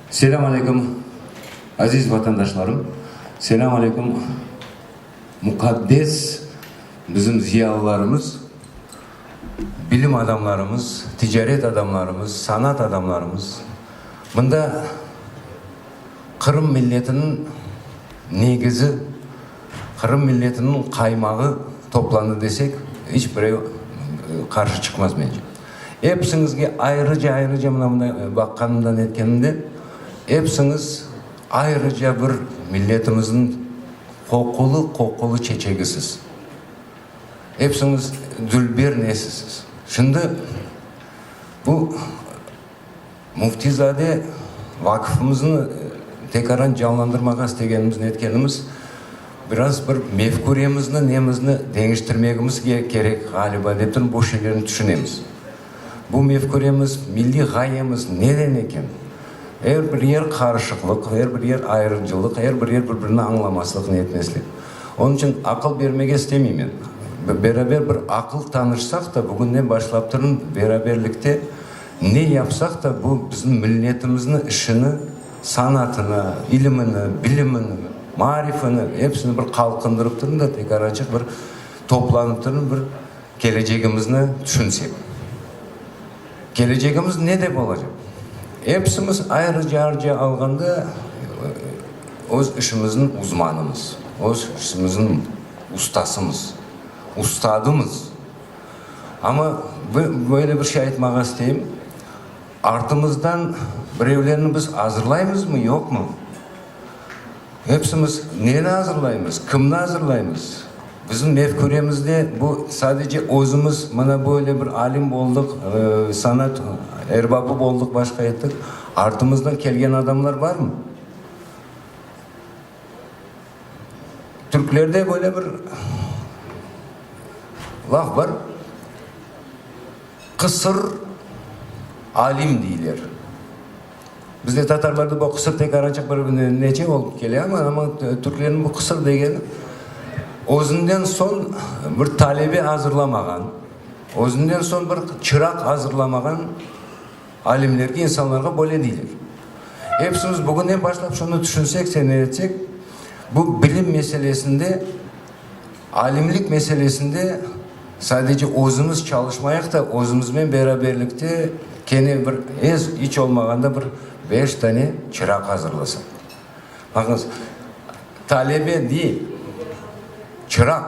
Selam aleyküm, aziz vatandaşlarım! Selam aleyküm, muqaddes bizim ziyalılarımız, bilim adamlarımız, ticaret adamlarımız, sanat adamlarımız! Mında… Qırım milletiniñ negizi, Qırım milletiniñ qaymağı toplandı desek, iç birev qarşı çıqmaz mence. Episiñizge ayrıca-ayrıca mına bunday baqqanımda, netkenimde, episiñiz ayrıca bir milletimizniñ qoqulı-qoqulı çeçegisiz. Episiñiz dülber nesisiz. Şimdi bu. Müftizade vakıfımıznı tekaran canlandırmağa istegenimiz, netkenimiz, biraz bir mefküremizni, nemizni deñiştirmegimiz kerek ğaliba, dep turım, bu şeylerni tüşünemiz. Bu mefküremiz, milliy ğayemiz neden eken? Er bir yer qarışıqlıq, er bir yer ayırıcılıq, er bir yer bir-birini añlamaslıq, netmeslik. Onıñ içün aqıl bermege istemeymen. Beraber bir aqıl tanışsaq da, bugünden başlap turım, beraberlikte, Ne yapsaq da, bu bizim milletimizni işini, sanatını, ilimini, bilimini, maarifini, hepsini bir qalqındırıp turın da, tekrar açıq bir toplanıp turın, bir kelecegimizni tüşünsek. Kelecegimiz ne dep olacaq? Hepsimiz ayrıca-ayrıca alğanda öz işimizniñ uzmanımız, öz işimizniñ ustasımız, ustadımız. Amma böyle bir şey aytmağa isteyim, artımızdan birevlerni biz azırlaymızmı, yoqmı? Hepsimiz neni azırlaymız, kimni azırlaymız? Bizim mefküremizde bu sadece özümiz mına böyle bir alim oldıq, sanat erbabı oldıq, başqa ettik, artımızdan kelgen adamlar barmı? Türklerde böyle bir laf bar, Qısır alim deyler. Bizde tatarlarda bu qısır tek araçıq bir neçe olıp kele, amma türklerniñ bu qısır degeni özünden soñ bir talebe azırlamağan, özünden soñ bir çıraq azırlamağan, Alimlerge, insanlarğa böyle deyler. Epsimiz bugünden başlap şunı tüşünsek, sene etsek, bu bilim meselesinde, alimlik meselesinde sadece özümiz çalışmayaq da, özümiznen beraberlikte kene bir ez, iç olmağanda bir beş tane çıraq azırlasak. Baqıñız, talebe değil, çıraq.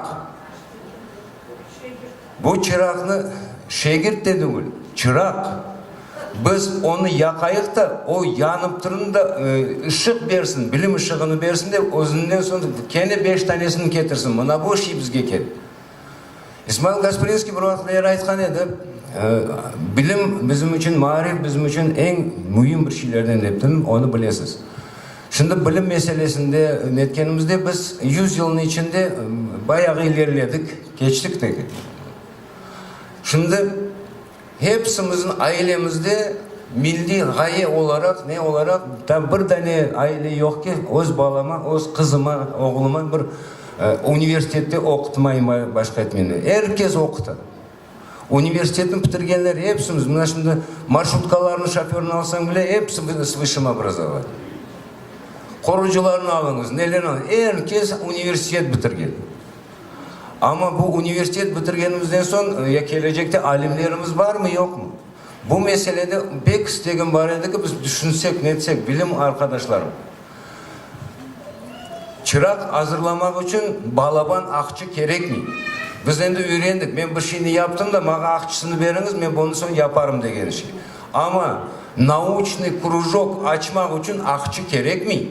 Bu çıraqnı şegirt de degil, çıraq. Biz onı yaqayıq da, o yanıp turun da, ışıq bersin, bilim ışığını bersin de, özünden soñ kene beş tanesini ketirsin, mına bu şey bizge kerek. İsmail Gaspelinskiy bir vaqıtlar aytqan edi, Bilim bizim içün, maarif bizim içün eñ müim bir şeylerden, dep turun, onı bilesiz. Şimdi bilim meselesinde netkenimizde biz yüz yılnıñ içinde bayağı ilerledik, keçtik de kettik. Şimdi hepsimizniñ ailemizde milliy ğaye olaraq, ne olaraq tam bir dane aile yoq ki, öz balama, öz qızıma, oğluma bir universitette oqutmayım, başqa etmeyim dep. Er kes oquta. Universitetni pitirgenler epsimiz, mına şimdi marşrutkalarnıñ şoförını alsañ bile, episi biz s vısşem obrazovaniye. Qorucılarnı alıñız, nelerni alıñız, er kes universitet bitirgen. Amma bu universitet bitirgenimizden soñ ya kelecekte alimlerimiz barmı, yoqmı? Bu meselede pek istegim bar edi ki, biz tüşünsek, netsek, bilim arqadaşlarım. Çıraq azırlamaq içün balaban aqçı kerekmey. Biz endi üyrendik, men bir şeyni yaptım da, maña aqçısını beriñiz, men bunı soñ yaparım degen şey. Amma nauçnıy krujok açmaq içün aqçı kerekmey.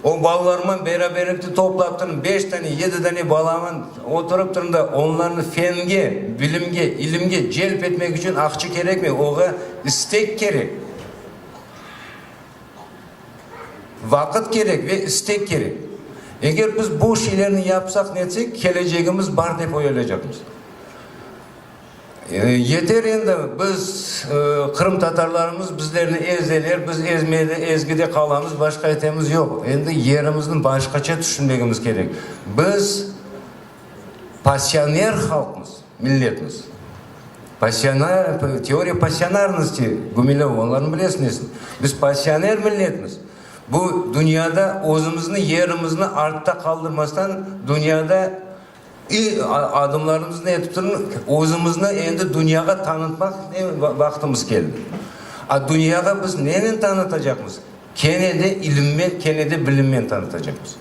O balalarman beraberlikte toplap turım, beş dane, yedi dane balaman oturıp turım da, onlarnı fenge, bilimge, ilimge celp etmek içün aqçı kerekmey, oña istek kerek. Vaqıt kerek ve istek kerek. Eger biz bu şeylerni yapsaq, netsek, kelecegimiz bar dep oyalaycaqmız. Yeter endi, biz, qırımtatarlarımız bizlerni ezeler, biz ezmede, ezgide qalamız, başqa etemiz yoq. Endi yerimizni başqaça tüşünmegimiz kerek. Biz, passioner halqmız. Milletniz. Pasionarniy, teoriya pasionarnosti, Gumilev, onlarnı bilesiñiz. Biz pasioner milletmiz. Bu dünyada özümizni, yerimizni artta qaldırmastan dünyada i, a, adımlarımız ne etip turın, özümizni endi dünyağa tanıtmaq vaqtımız keldi. A dünyağa biz nenen tanıtacaqmız? Kene de ilimmen, kene de bilimmen tanıtacaqmız.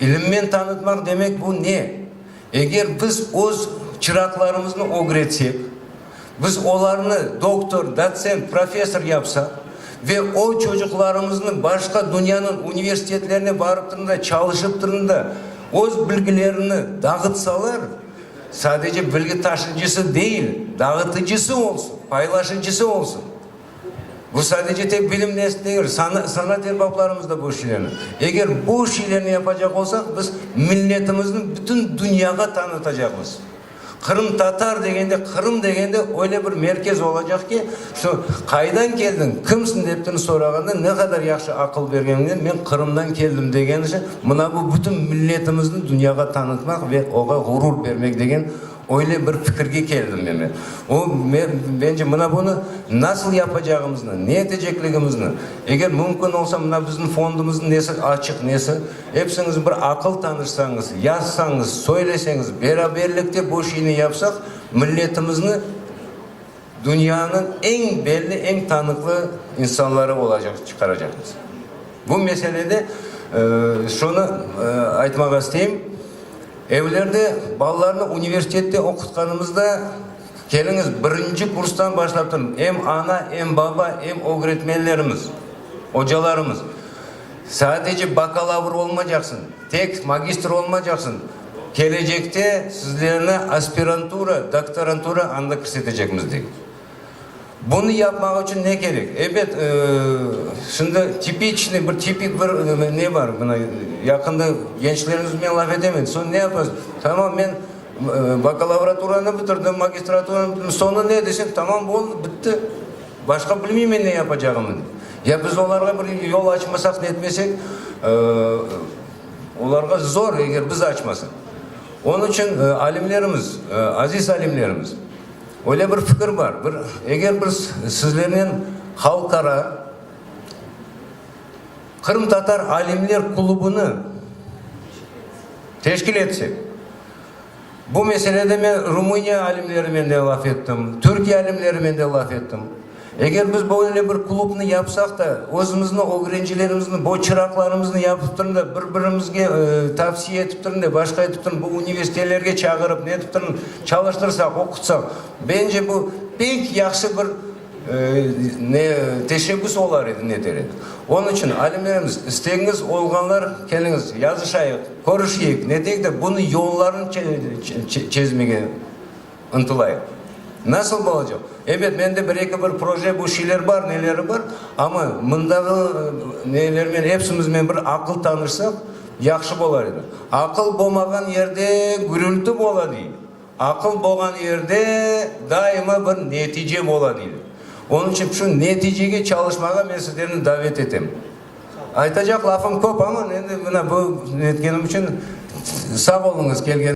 İlimmen tanıtmaq demek bu ne? Eger biz öz çıraqlarımıznı ögretsek, biz olarnı doktor, dotsent, professor yapsaq ve o çocuqlarımıznı başqa dünyanıñ universitetlerine barıp turun da, çalışıp turun da öz bilgilerini dağıtsalar, sadece bilgi taşıyıcısı değil, dağıtıcısı olsun, paylaşıcısı olsun. Bu sadece tek bilim ders degil, sanat erbaplarımız da bu işlerni, eger bu işlerni yapacaq olsaq, biz milletimizni bütün dünyağa tanıtacaqmız. Qırımtatar degende, Qırım degende öyle bir merkez olacaq ki, şu qaydan keldiñ, kimsiñ deptin sorağanda, ne qadar yahşı aqıl bergeninden, men Qırımdan keldim degeni içün, mına bu bütün milletimizni dünyağa tanıtmaq ve oğa ğurur bermek degen Öyle bir fikirge keldim meni. O, mence, mına bunı nasıl yapacağımıznı, ne etecekligimizni, eger mümkün olsa, mına bizim fondımıznıñ nesi açıq, nesi, epsiñiz bir aqıl tanışsañız, yazsañız, söyleseñiz, beraberlikte bu şiini yapsaq, milletimizni Dünyanıñ eñ belli, eñ tanıqlı insanları olacaq, çıqaracaqmız. Bu meselede şunı aytmağa isteyim, evlerde balalarnı universitette oqutqanımızda, keliñiz, birinci kurstan başlap turıñ, em ana, em baba, em ögretmenlerimiz, ocalarımız, Sadece bakalavr olmacaqsıñ, tek magistr olmacaqsıñ, kelecekte sizlerni aspirantura, doktorantura anda kirsetecekmiz, dey. Bunı yapmaq içün ne kerek? Ebet, şimdi tipiçnıy, bir tipik bir ne bar, mına yaqında gençlerimiz bilen laf etemen, soñ ne yapasıñ, tamam, men bakalavraturani bitirdim, magistraturanı bitirdim, soñu ne desem, tamam, oldı, bitti. Başqa bilmeymen ne yapacağımı. Ya biz olarğa bir yol açmasaq, netmesek, olarğa zor, eger biz açmasaq. Onıñ içün alimlerimiz, aziz alimlerimiz, öyle bir fikir bar, eger biz sizlernen halqara qırımtatar alimler klubını teşkil etsek, Bu meselede men Rumıniya alimlerimen de laf ettim, Türkiye alimlerimen de laf ettim. Eger biz böyle bir klubnı yapsaq da, özümizniñ ögrencilerimizniñ, bu çıraqlarımıznı yapıp turun da, bir-birimizge tavsiye etip turun da, başqa etip turun, bu universitelerge çağırıp, netip turun, çalıştırsaq, oqutsaq, bence bu pek yahşı bir Ne teşebbüs olar edi, ne deret. Onıñ içün alimlerimiz, istegiñiz olğanlar keliñiz, yazışayıq, körüşeyik, ne deyik de, bunıñ yollarını çezmege ıntılayıq. Nasıl bolacaq? Ebet, mende bir-eki bir proje, bu şeyler bar, neleri bar, amma mındağı nelermen, epsimizmen bir aqıl tanışsaq, yahşı bolar edi. Aqıl bolmağan yerde gürülti bola, dey. Aqıl bolğan yerde daima bir netice bola deyler. Onıñ içün şu neticege çalışmağa men sizlerni davet etem. Aytacaq lafım köp, amma endi mına bu netkenim içün sağ oluñız, kelgen.